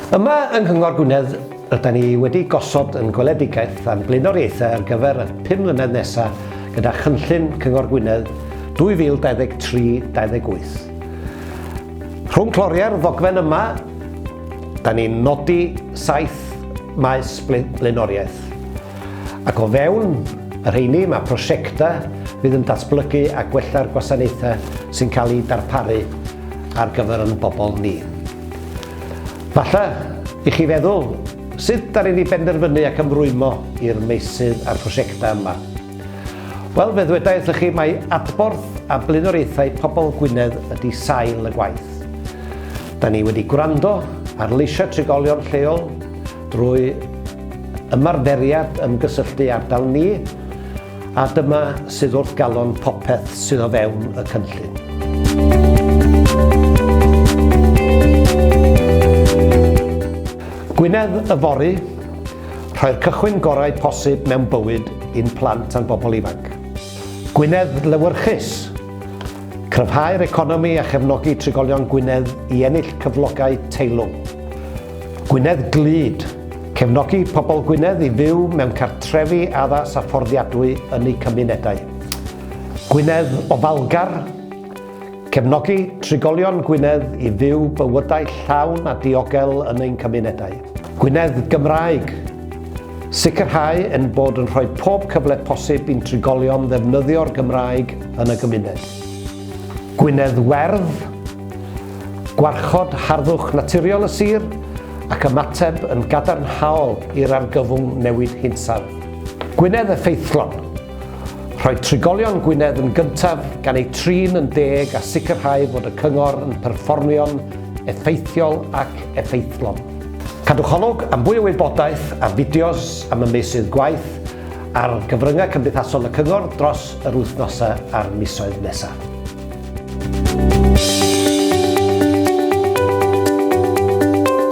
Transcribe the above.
Yma yng Nghyngor Gwynedd rydyn ni wedi gosod yn gweledigaeth a'n blaenoriaethau ar gyfer y 5 mlynedd nesaf gyda chynllun Cyngor Gwynedd 2023-28. Rhwng cloriau'r ddogfen yma, da ni'n nodi saith maes blaenoriaeth. Ac o fewn y rheini mae prosiectau fydd yn datblygu a gwella'r gwasanaethau sy'n cael eu darparu ar gyfer ein bobl ni. Falle i chi feddwl, sut da ni'n ei benderfynu ac ymrwymo i'r meysydd a'r prosiectau yma? Wel, fe ddweda wrthych chi mai adborth a blaenoriaethau pobl Gwynedd ydy sail y gwaith. Da ni wedi gwrando ar leisiau trigolion lleol, Drwy ymarferiad ymgysylltu ardal ni, a dyma sydd wrth galon popeth sydd o fewn y cynllun. Gwynedd Yfory, rhoi'r cychwyn gorau posib mewn bywyd i'n plant a'n bobl ifanc. Gwynedd Lewyrchus, Cryfhau'r economi a chefnogi trigolion Gwynedd i ennill cyflogau teilwng. Gwynedd Glyd, Cefnogi pobl Gwynedd i fyw mewn cartrefi addas a fforddiadwy yn eu cymunedau. Gwynedd Ofalgar, Cefnogi trigolion Gwynedd i fyw bywydau llawn a diogel yn ein cymunedau. Gwynedd Gymraeg, Sicrhau ein bod yn rhoi pob cyfle posib i'n trigolion ddefnyddio'r Gymraeg yn y gymuned. Gwynedd Werdd, Gwarchod harddwch naturiol y sir ac ymateb yn gadarnhaol i'r argyfwng newid hinsawdd. Gwynedd Effeithlon, Rhoi trigolion Gwynedd yn gyntaf gan eu trin yn deg a sicrhau fod y cyngor yn perfformio'n effeithiol ac effeithlon. Cadwch olwg am fwy o wybodaeth a fideos am y meysydd gwaith ar gyfryngau cymdeithasol y Cyngor dros yr wythnosau a'r misoedd nesaf.